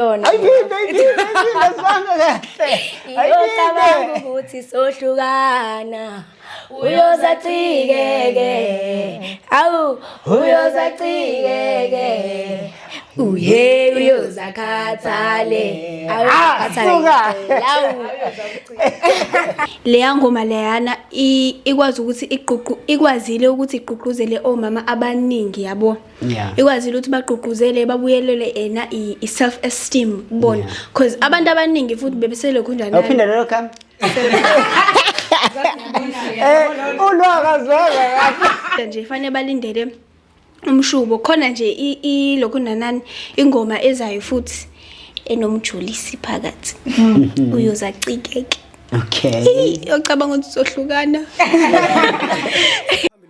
yona ayiphinde ayiphinde ayiphinde sibanga kahle iyocabanga ukuthi sohlukana uyozacikeke awu uyozacikeke uye uyozakhathale leya ngoma leyana ikwazi ukuthi iququ ikwazile ukuthi iququzele omama abaningi yabo yeah. ikwazile ukuthi bagqugquzele babuyelele ena i-self esteem kubona because yeah. abantu abaningi futhi bebeselokhu njaniphinde lelo khami eh, ulwakazwaka nje fanele balindele umshubo khona nje ilokhu nanani ingoma ezayo futhi enomjulisi phakathi mm-hmm. uyoza cikeke okay ocabanga ukuthi sohlukana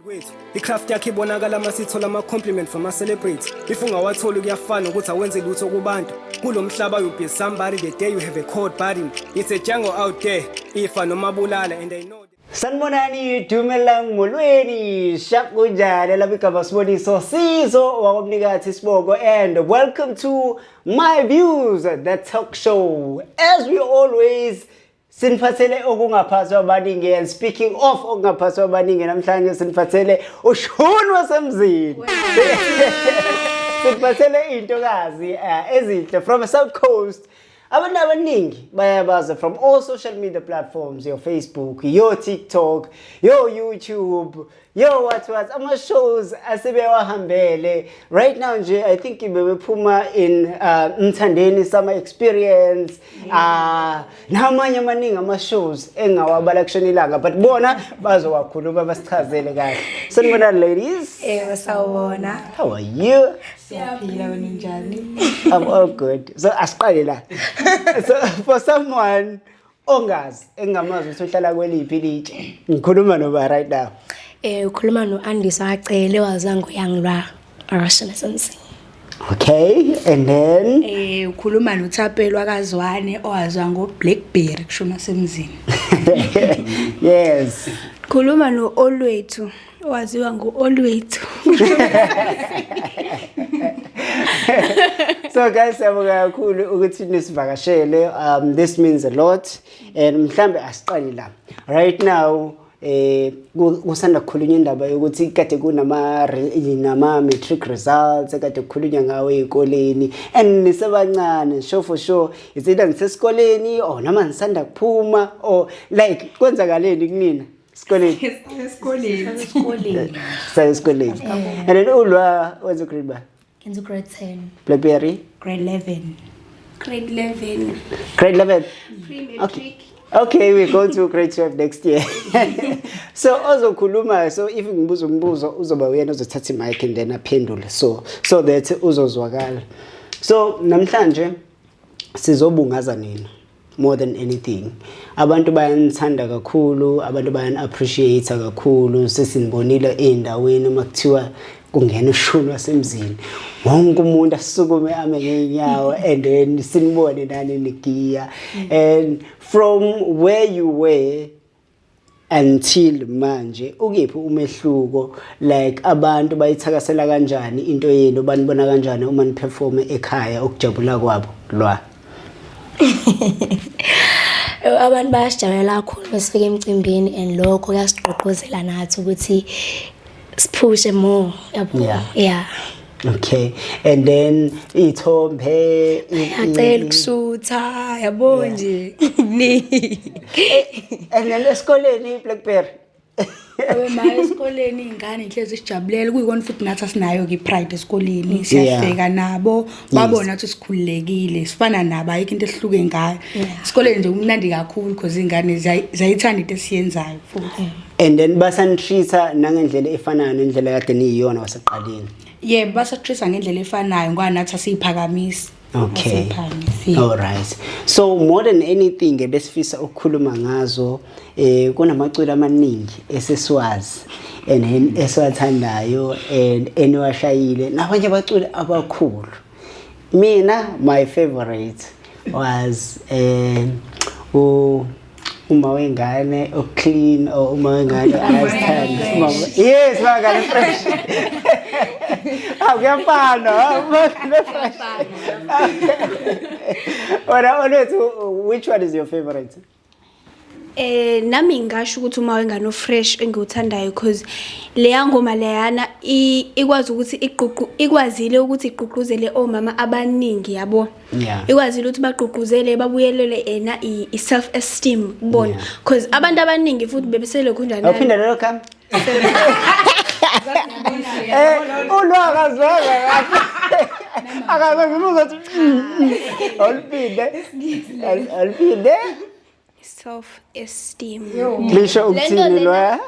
kwethu icraft yakhe ibonakala uma sithola ama-compliment from ama-celebrity if ungawatholi kuyafana ukuthi awenze lutho kubantu kulo mhlaba you be somebody the day you have a cold burden it's a jungle out there ifa noma bulala and i know Sanibonani Dumelang Molweni Shap kunjani lapha igaba siboniso sizo wakwamnikathi siboko and welcome to my views the talk show as we always Siniphathele okungaphathwa abaningi and speaking of okungaphathwa abaningi namhlanje siniphathele ushuni wasemzini. Siniphathele intokazi eh, ezinhle from South Coast. Abantu abaningi bayabaza from all social media platforms, your Facebook, your TikTok, your YouTube, yo what was ama-shows asebewahambele right now nje i think bebephuma in uh, mthandeni summer experience uh, namanye amaningi ama-shows engawabala kushona ilanga but bona bazowakhuluma basichazele kahle sanibona ladies ewe sawubona how are you siyaphila wena njani i'm all good so asiqale la so for someone ongazi engingamazi ukuthi uhlala kweliphi ilitshe ngikhuluma noba right now eh ukhuluma no-andisa wacele wazango yangilwa arashana samsini okay and then eh ukhuluma nothapelo akazwane owazwa ngo-blackberry kusho masemzini yes khuluma no-olwethu waziwa ngu-olwethu so guys siyabonga kakhulu ukuthi nisivakashele um this means a lot and mhlambe asiqali la right now eh kusanda kukhulunywa indaba yokuthi kade kunama nama matric results kade kukhulunywa ngawo ezikoleni and nisebancane sure for sure is it ngisesikoleni or noma ngisanda kuphuma or like kwenzakaleni kunina Sikoleni. Esikoleni. Esikoleni. Saye esikoleni. And then ulwa wenza grade ba? Ngenza grade 10. Blackberry? Grade 11. Grade 11. Grade 11. Pre-matric. Okay. Okay, we go to grade 12 next year. so ozokhuluma so if ngibuza umbuzo uzoba uyena ozothatha imic and then aphendule so so that uzozwakala. So namhlanje sizobungaza nina. more than anything abantu bayanithanda kakhulu abantu bayani-appreciate kakhulu sesinibonile ey'ndaweni uma kuthiwa kungena ushuni wasemzini wonke umuntu asukume ame ngey'nyawo and then sinibone nani nigiya and from where you were until manje ukephi umehluko like abantu bayithakasela kanjani into yenu banibona kanjani uma niperforme ekhaya ukujabula kwabo lwa abantu bayasijabulela kakhulu masifika emcimbini and lokho kuyasigqugquzela nathi ukuthi siphuse more yabo yeah, yeah. Okay. And then ithombe acela ukusutha yabo nje. Ni. Eh, and then esikoleni iBlackberry. Abemaye esikoleni ingane inhlezi sijabulela kuyikona futhi nathi asinayo ke pride esikoleni siyafika nabo babona ukuthi sikhululekile sifana nabo ayikho into ehluke ngayo esikoleni nje kumnandi kakhulu because iy'ngane ziyayithanda into esiyenzayo futhi and then basanitreat-a nangendlela efanayo nendlela kade niyiyona waseqaleni yebo basatreat-a ngendlela efanayo ngoba nathi asiyiphakamisi okay all right so more than anything ebesifisa ukukhuluma ngazo eh kunamaculo amaningi eseswazi and esiwathandayo and eniwashayile nabanye abaculi abakhulu mina my favorite was eh u uma wengane o clean or uma wengane ayasithanda yes bakale fresh akuyafana fresh ora olwethu which one is your favorite Eh nami ngisho ukuthi uma wengane ofresh engiwuthandayo because leya ngoma leyana ikwazi ukuthi iququ ikwazile ukuthi igqugquzele omama abaningi yabo. Yeah. Ikwazile ukuthi bagqugquzele babuyelele ena i self esteem kubona because abantu abaningi futhi bebeselokhu njani. Uphinde lelo kami. Eh, ulwaka zwaka kahle akaze ngibuza ukuthi olipinde olipinde self esteem lisho ukuthini loya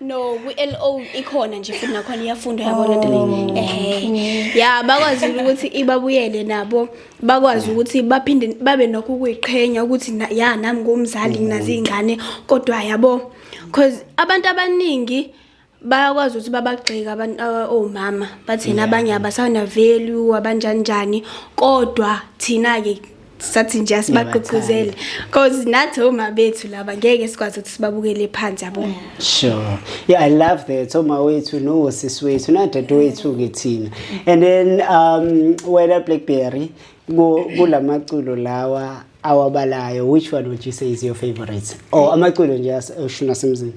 no kwi-LO ikhona nje futhi nakhona iyafundwa yabona into le eh ya bakwazi ukuthi ibabuyele nabo bakwazi ukuthi baphinde babe nokho ukuyiqhenya ukuthi ya nami ngumzali nginazi iy'ngane kodwa yabo because abantu abaningi bayakwazi ukuthi babagxeka abantu uh, omama bathina abanye abasana value abanjani njani kodwa thina ke sathi nje asibagqugquzele because nathi oma bethu laba ngeke sikwazi ukuthi sibabukele phansi yabo yeah. Sure. Yeah, I love that. So my way to know sis way to not that way to get in. And then um whether Blackberry go go la maculo lawa awabalayo which one would you say is your favorite? Or oh, amaculo nje ashuna semzini.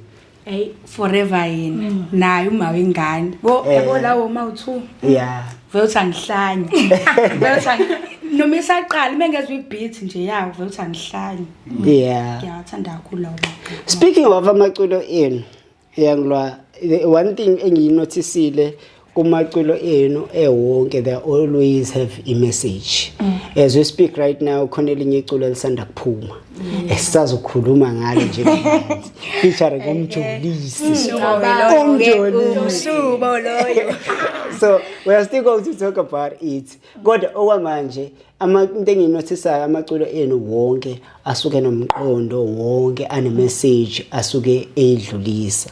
Hey, forever yena. Mm. Naye uma wengane. Wo eh. yabo lawo ma u2. Yeah. Vele uthangihlanye. Vele uthangihlanye. noma isaqala uma ngezwa ibeat nje yawo vele uthi angihlanye yeah ngiyathanda kakhulu lawo speaking of amaculo enu yangilwa the one thing engiyinothisile kumaculo enu ewonke they always have a message mm. as we speak right now khona elinye iculo elisanda kuphuma mm. esisazokhuluma ngalo nje featuring umjolisi umjolisi so we are still going to talk about it kodwa okwamanje into enginothisayo amaculo enu wonke asuke nomqondo wonke anemeseji asuke eyidlulisa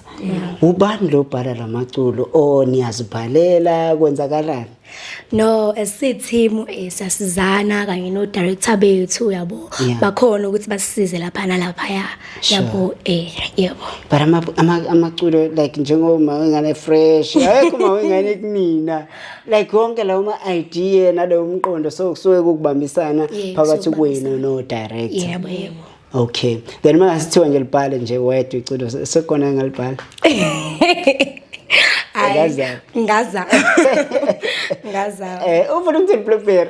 ubani lo bhala la maculo o oh, niyazibhalela kwenzakalani no as a team eh, sasizana kanye no director bethu yabo bakhona ukuthi basisize lapha nalapha ya yabo eh yebo but amaculo like njengoba ngane fresh ayikho mawengane kunina like yonke lawo ma-idea nalowo mqondo so kusuke kukubambisana Yeah, phakathi kusuke kwenu kubambisana. no-director yebo yebo okay then uma ngasithiwa nje libhale nje wedwa iculo se- sekhona engalibhala Hhayi, Ngazama. ngazama ngazama Eh, ufuna ukuthi blueberry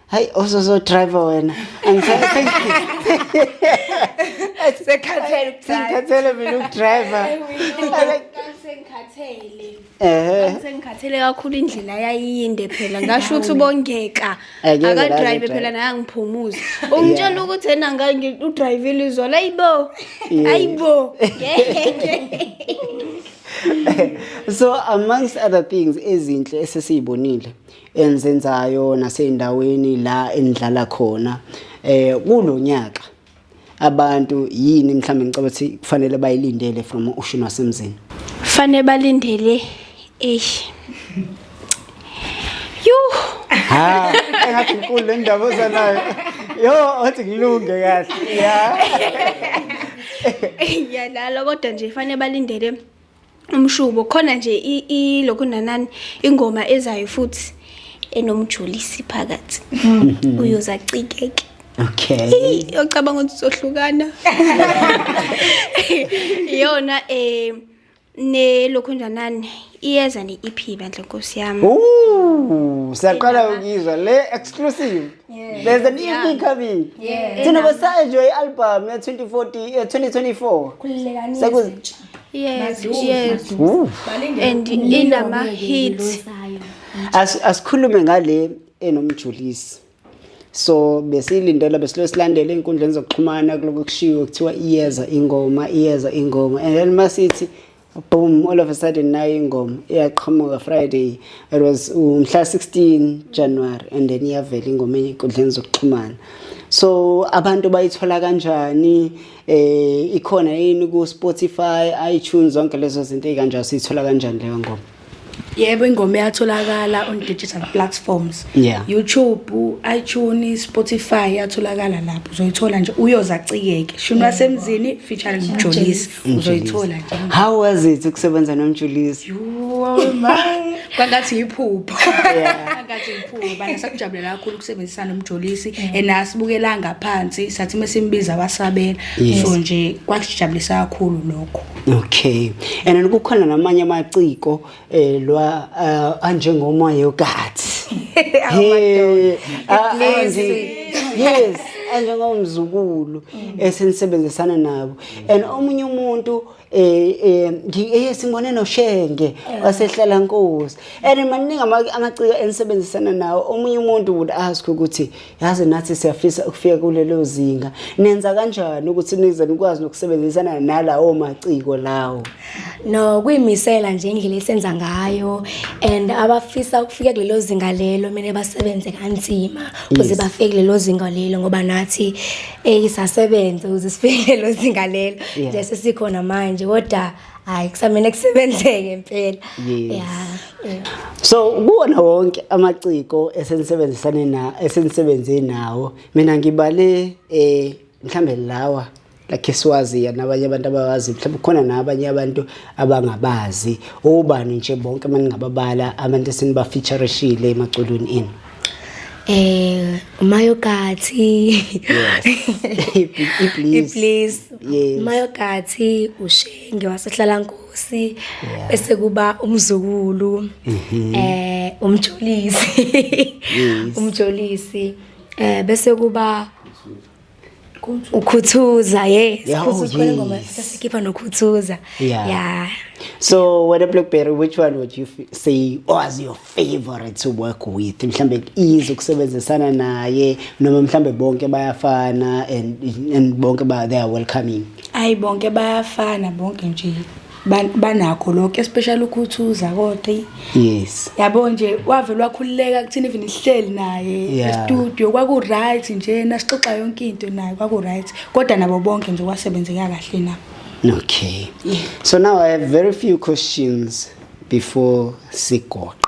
hayi osozodriver wena sengikhathele mina ukudriver sengikhathele kakhulu indlela yayiyinde phela ngasho ukuthi ubongeka akadrive phela naye angiphumuze ungitshela ukuthi ena udrivile izolo ayibo ayibo so amongst other things ezinhle esesiyibonile enzenzayo nasey'ndaweni la enidlala khona eh kulo nyaka abantu yini mhlawumbe ngicabanga ukuthi kufanele bayilindele from ushuni wasemzini fanele balindele eish yuh ha engathi inkulu le ndaba ozanayo yo othi ngilunge kahle ya ngiyalala kodwa nje fanele balindele umshubo khona nje ilokhu nanani ingoma ezayo futhi enomjulisi phakathi hmm. uyoza cikeke okay yocabanga ukuthi sohlukana iyona eh ne lokho njanani iyeza ne EP bandla nkosi yami ooh siyaqala ukizwa le exclusive Yeah. there's a new Yeah. thing coming Yeah. thina besaenjoy i-album ya-2040 eh, 2024 Khululekani Sekuze- izintsha. Yes, Maduze, yes. maduze. Ooh. Balinde And Umlilo inama ngeke hit. ngilosayo. As- asikhulume ngale enomjulisi so besiyilindela besilo silandela ey'nkundleni zokuxhumana kuloko kushiwo kuthiwa iyeza ingoma iyeza ingoma and then masithi boom all of a sudden nayo ingoma iyaqhamuka friday it was umhla 16 january and then iyavela ingoma enkundleni zokuxhumana so abantu bayithola kanjani eh ikhona yini ku Spotify iTunes zonke lezo zinto ezikanjalo sithola kanjani leyo ngoma Yebo ingoma iyatholakala on digital platforms. Yeah. YouTube, iTunes, Spotify iyatholakala lapho. Uzoyithola nje uyoza ciyeke. Shuni wasemzini featuring Mjolisi. Uzoyithola nje. How was it ukusebenza noMjolisi? Yooh my. Kwangathi iphupho. Yeah. Kwangathi iphupho. Bana sakujabulela kakhulu ukusebenzisana noMjolisi and asibukela ngaphansi sathi mesimbiza wasabela. So nje kwasijabulisa kakhulu lokho. Okay. And kukhona namanye amaciko eh lwa uh, anjengoma yogathi. Hey, ah, yes, anjengomzukulu mm. esenisebenzisana nabo. And omunye umuntu eh eh ngiyesimone eh, noshenge wasehlala nkosi. And maningi amaciko enisebenzisana nawo. Omunye umuntu would ask ukuthi yazi nathi siyafisa ukufika kulelo zinga nenza kanjani ukuthi nize nikwazi nokusebenzisana nalawo maciko lawo no kuyimisela nje indlela esenza ngayo and abafisa ukufika kulelo zinga lelo mina basebenze kanzima ukuze bafike kulelo zinga lelo ngoba nathi eyisasebenze eh, ukuze sifike kulelo zinga lelo nje sesikhona manje kodwa hayi kusamele kusebenzeke impela yeah so kuwona wonke amaciko esenisebenzisane na esenisebenze nawo mina ngibale eh mhlambe lawa lakhe siwaziya nabanye abantu abawazi mhlawumbe khona nabanye abantu abangabazi obani nje bonke maningababala abantu esinibafeatureshile emaculweni enu Eh uMayokathi. Please. uMayokathi uShenge wasehlala Nkosi bese kuba umzukulu mhm. eh umjolisi. Umjolisi eh bese kuba ukhuthuza yes yeah, oh, yes. ngoma sikhipha nokhuthuza yeah. yeah so wena blackberry which one would you say was your favorite to work with mhlambe easy ukusebenzisana naye noma mhlambe bonke bayafana and, and bonke ba they are welcoming ayi bonke bayafana bonke nje banakho lokho especially ukhuthuza kodwa yes yabo nje wavele wakhululeka kuthina even ihleli naye estudio kwaku right nje nasixoxa yonke into naye kwaku right kodwa nabo bonke nje kwasebenzeka kahle na okay yeah. so now i have very few questions before sigoqa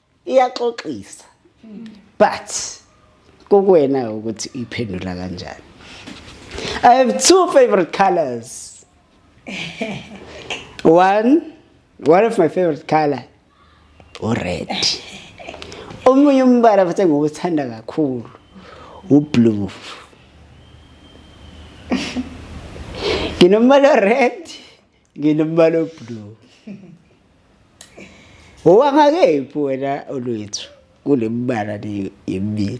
iyaxoxisa but kokuwena ukuthi iphendula kanjani i have two favorite colors one one of my favorite color ured omunye umbala futhi engiwuthanda kakhulu ublue nginomala red Nginomali oblue. Owangakephi wena olwethu kulemibala le yemibili.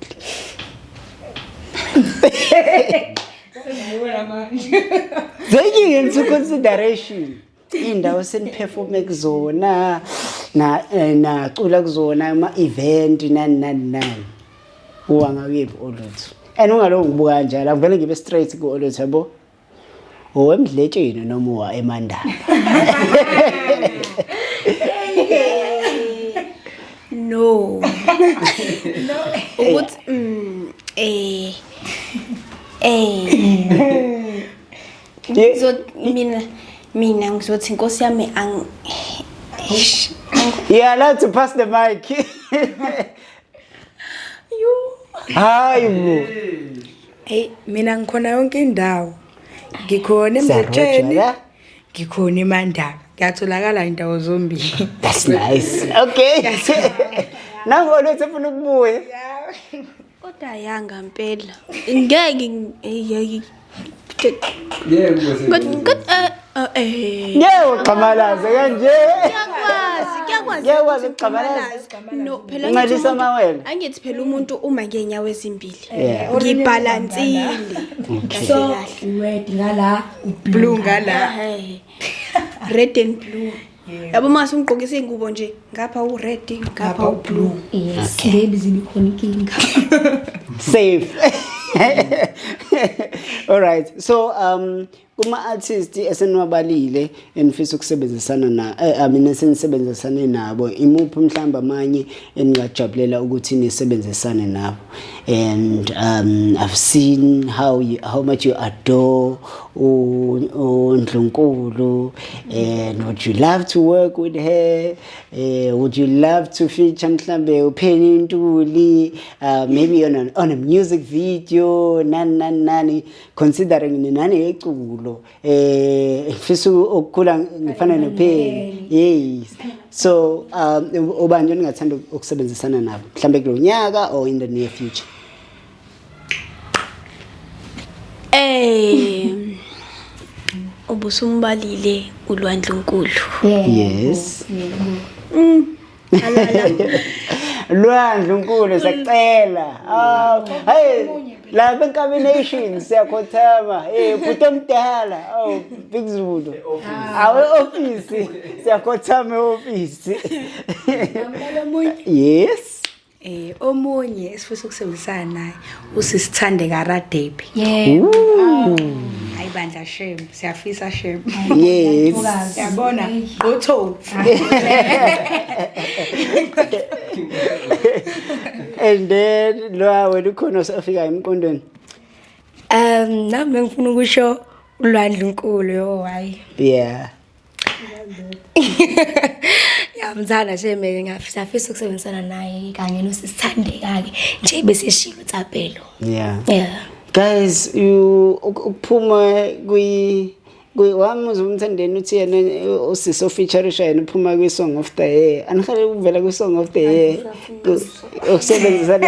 Thank you into consideration. Indawo seniperforme kuzona na eh, nacula kuzona ama event nani nani nani. Owangakephi olwethu. And ungalowo ngibuka kanjalo, ngivele ngibe straight ku olwethu yabo. owemdletsheni noma uwa emandaba no no ukuthi mm, eh eh ngizot mina mina ngizothi inkosi yami ang yeah let's pass the mic hayi bo eyi mina ngikhona yonke indawo ngikhona emzetsheni ngikhona emandaba ngiyatholakala indawo zombili that's nice okay nangu olwethi efuna ukubuya kodwa yanga mpela ngeke uxhamalaze kanje ngiyakwazi ukugxamalazanxelisa amawele angithi phela umuntu uma ngenyawo ezimbili ngibhalansile so red ngala blue ngala red and blue yabo mase ungigqokisa iy'ngubo nje ngapha u-red ngapha u-blue yes baby zibikhona inkinga safe all right so um kuma-artist eseniwabalile enifisa ukusebenzisana na eh, I mean esenisebenzisane nabo imuphi mhlawumbe amanye eningajabulela ukuthi nisebenzisane nabo and um, i've seen how, you, how much you adore uNdlunkulu and would you love to work with her uh, would you love to feature mhlambe upheni intuli uh, maybe on, an, on a music video nani nani nani considering ninani yeculo eh ngifisa ukukhula ngifana nopheni yes so um ubani ningathanda ukusebenzisana nabo mhlambe kulo nyaka or in the near future Eh ubusumbalile ulwandlunkulu. Yes. Mm. Lwandlunkulu sacela. Ah, hey la benkamination siyakhothama hey eh, bhuti omdala oh big zulu ah. awe office siyakhothama office yes Eh omunye esifisa ukusebenzisana naye usisithande karadebi. Yebo. Hayi bandla shem, siyafisa shem. Yes. Yabona gqotho. And then lo wena ukhona osafika emqondweni. Um nami ngifuna ukusho uLwandle uNkulu yo hayi. Yeah. yamthanda nje mina ngiyafisa afisa ukusebenzisana naye kanye nosisithandeka-ke nje beseshilo utsapelo yeah yeah guys you ukuphuma kwi wamuzwa umthandeni uthi yena usisi ofeaturisha yena uphuma kwi-song of the year anihale ukuvela kwi-song of the year ukusebenzisana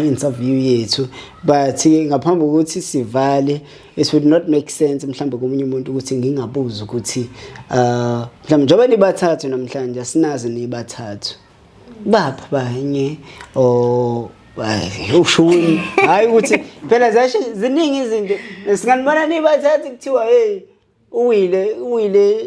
interview yethu but ngaphambi kokuthi sivale it would not make sense mhlawumbe komunye umuntu ukuthi ngingabuza ukuthi uh mhlawumbe njengoba nibathathu namhlanje asinazi nibathathu bapha banye or ushuni hayi ukuthi phela zashe ziningi izinto singanibona nibathathu kuthiwa hey uwile uwile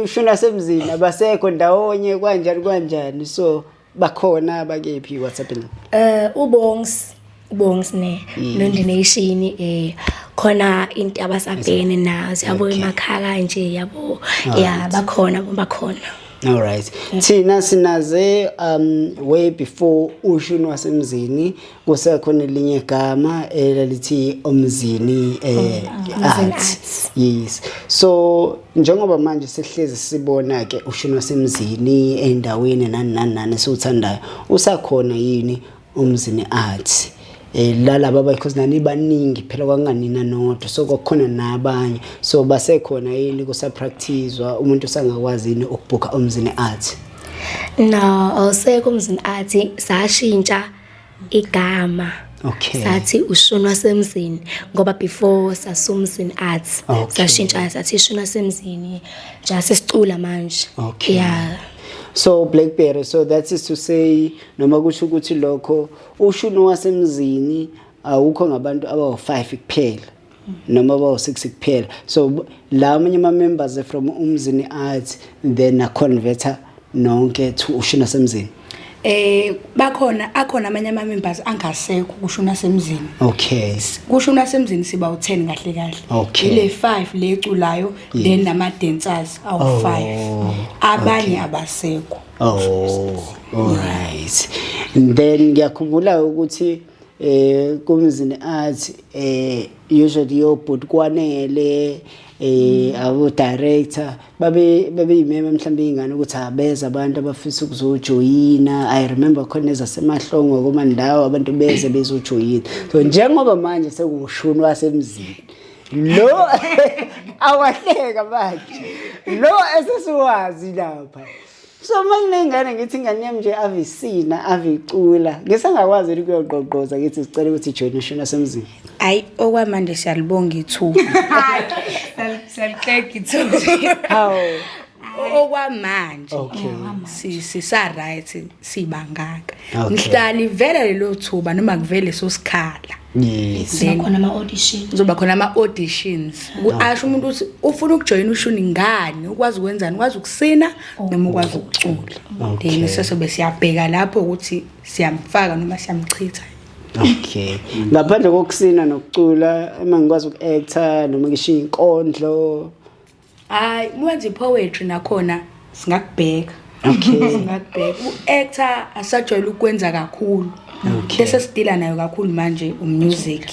ushuna semzini abasekho ndawonye kwanjani kwanjani so bakhona bakephi what's happening eh ubongs ubongs ne mm. nondination eh khona into abasabhene nazo yabo emakhaka nje yabo ya bakhona bakhona all right thina sinaze um way before ushuni wasemzini kusekhona elinye gama elalithi omzini eh oh, ah, arts yes so njengoba manje sihlezi sibona ke ushino semzini endaweni nani nani nani siwuthandayo usakhona yini umzini arts eh lalaba because nani baningi phela kwanganina nodwa so kwakhona nabanye so basekhona yini kusapracticewa umuntu usangakwazi yini ukubhuka umzini arts no awusekho umzini arts sashintsha igama okay sathi ushuni wasemzini ngoba before sasumzini arts okay. sashintsha sathi ishuni wasemzini just sicula manje okay yeah so blackberry so that is to say noma kusho ukuthi lokho ushuni wasemzini awukho ngabantu abawu5 kuphela noma bawu-six kuphela so la amanye ama-members from umzini arts then aconverter nonke to ushina semzini eh bakhona akhona amanye ama members angasekho kusho unasemzini okay kusho unasemzini siba u10 kahle kahle okay. ile 5 leculayo yes. then nama dancers awu 5 oh, abanye okay. abasekho oh all right then ngiyakhumbula ukuthi eh kumzini art eh usually yobhuti kwanele eh abo director babe babe yimema mhlawumbe ingane ukuthi abeza abantu abafisa ukuzojoyina i remember khona ezasemahlongo kuma ndawo abantu beze bezojoyina so njengoba manje sekuwushuni wasemzini lo awahleka manje lo esesiwazi lapha so uma nginey'ngane ngithi ingane yami nje ave isina ave icula ngisengakwazi ukuthi kuyogqogqoza ngithi sicela ukuthi ijoyine ishoni asemzini hayi okwamanje siyalibonga ithuba siyaliqega ithuba hawu okwamanje sisa-right sibangaka mhlali vele lelo thuba noma kuvele sosikhala Yes. Then- khona ama-audition kuzoba khona ama-auditions asho umuntu ukuthi ufuna ukujoyina ushuni ngani ukwazi ukwenzani ukwazi ukusina noma ukwazi ukucula Okay. then sesobe siyabheka lapho ukuthi siyamfaka noma siyamchitha Okay. Ngaphandle kokusina nokucula, uma ngikwazi uku-actor noma ngishiye inkondlo, hayi mwenze poetry nakhona singakubheka okay singakubheka uactor asajwayele ukwenza kakhulu okay bese sidila nayo kakhulu manje umusic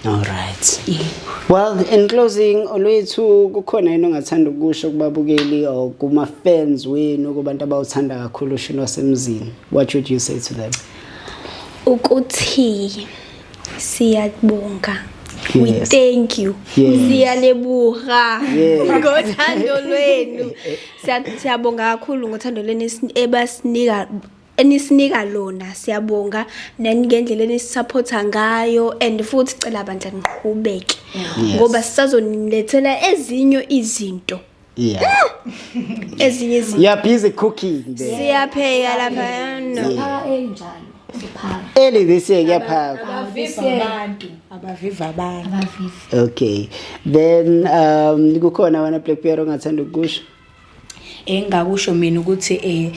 All right. Yeah. Well, in closing, olwethu kukhona yini ongathanda ukusho kubabukeli or kuma fans wenu kubantu abawuthanda kakhulu ushini wasemzini? What would you say to them? Ukuthi Siyabonga. Yes. We thank you. Yes. Siyalebuha yes. ngothando lwenu. Siyabonga kakhulu ngothando lwenu ebasinika enisinika lona siyabonga nangendlela enisupporta ngayo and futhi cela bandla niqhubeke ngoba sisazoninethela ezinye izinto Yeah. ezinye izinto You are busy cooking there. siyapheka lapha no Siphaka enjalo. Siphaka. Early this year kuyaphakwa. Abaviva abantu. Abaviva abantu. Abavivi. Okay. Then um kukhona wena Black Bear ongathanda ukusho. engakusho mina ukuthi eh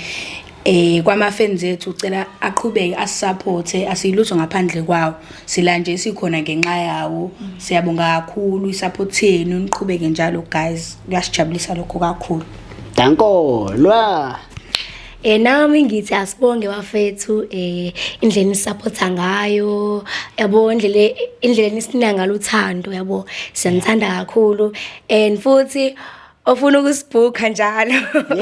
eh kwamafans ethu ucela aqhubeke asisupporte asiyilutho ngaphandle kwawo sila nje sikhona ngenxa yawo siyabonga kakhulu isupport yenu niqhubeke njalo guys kuyasijabulisa lokho kakhulu danko lwa Eh nami ngithi asibonge bafethu eh indlela nisupporta ngayo yabo indlela indlela nisina ngalo uthando yabo siyanithanda kakhulu and futhi ofuna ukusibhukha njalo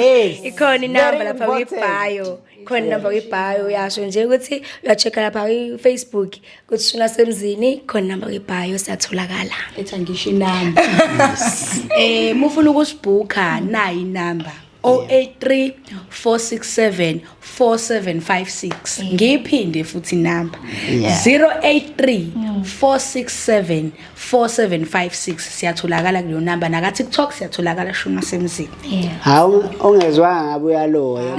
Yes. ikhona inamba Very lapha important. kwibhayo ikhona inamba kwibhayo uyasho nje ukuthi uyacheck lapha kwi-facebook ukuthi shuna semzini ikhona inamba kwibhayo siyatholakala etha ngisho inamba um mufuna ukusibhukha nayi inamba 083 467 4756 eh. ngiyiphinde futhi number 083 467 4756 siyatholakala kuleyo number naka TikTok siyatholakala shuma semzini hawu ongezwanga ngabe uyaloya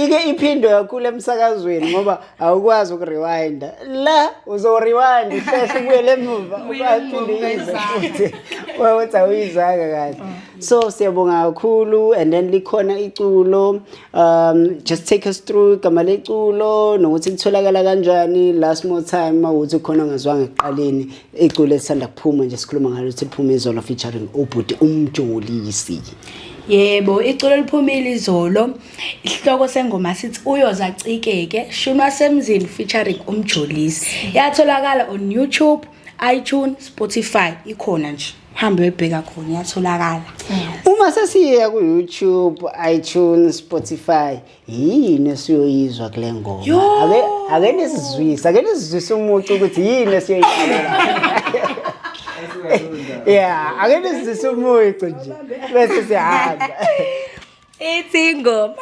ike iphindo kakhulu emsakazweni ngoba awukwazi ukurewind la uzorewind hlehla ubuyele emuva ubaphinde ize futhi wathi awuyizanga kahle mm. so siyabonga kakhulu and then likhona iculo um just take us through igama leculo nokuthi litholakala kanjani last more time mawuthi khona ngazwanga ekuqaleni iculo elisanda kuphuma nje sikhuluma ngalo ukuthi liphuma izolo featuring ubhuti umjolisi Yebo, iculo liphumile izolo. Isihloko sengoma sithi uyoza cikeke, shunwa semzini featuring umjolisi. Yatholakala on YouTube. iTunes, Spotify ikhona nje. Hambe uyibheka khona iyatholakala. Uma sesiya ku YouTube, iTunes, Spotify, yini esiyoyizwa kule ngoma? Yo! Ake ake nisizwise, ake nisizwise umuntu ukuthi yini esiyoyizwa. Yeah, ake nisizwise umuntu nje bese sihamba. ithi ingoma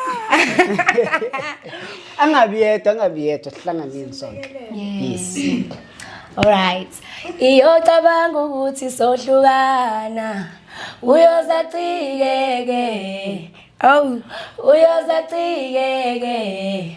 angabi yedwa angabi yedwa sihlanganeni sonke yes Alright. Iyocabanga ukuthi sohlukana. Uyoza cike ke. Oh, uyoza cike ke.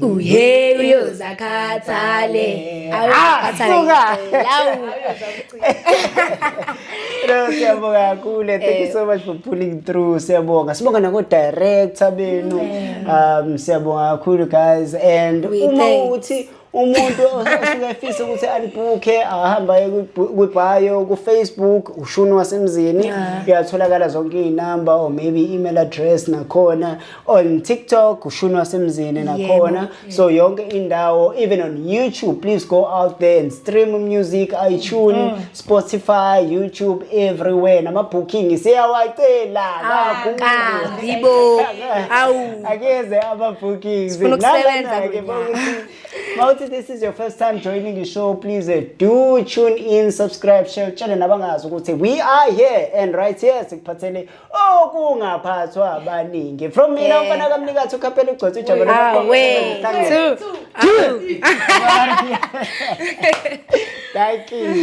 uye uyozakhathale awukhathale No, siyabonga kakhulu. Thank you eh. so much for pulling through. Siyabonga. Sibonga nako director benu. Um siyabonga kakhulu guys and uma uthi umuntu osuke efisa ukuthi alibhukhe ahamba kwibhayo ku-facebook ushuni wasemzini uyatholakala zonke iy'namba or maybe i-email address nakhona on TikTok ushuni wasemzini nakhona yeah. so yonke indawo even on YouTube please go out there and stream music iTunes mm. Spotify YouTube everywhere nama booking siyawacela ah, kakhulu yibo awu akeze ama bookings nalana ke mawuthi this is your first time joining the show please uh, do tune in subscribe share tshele nabangazi ukuthi we are here and right here sikuphathele okungaphathwa abaningi from mina Eh. umfana kamnikathi ukhaphela ugcotha ijabo Ah, lokuqoqa we. ihlangene. Two. Thank you.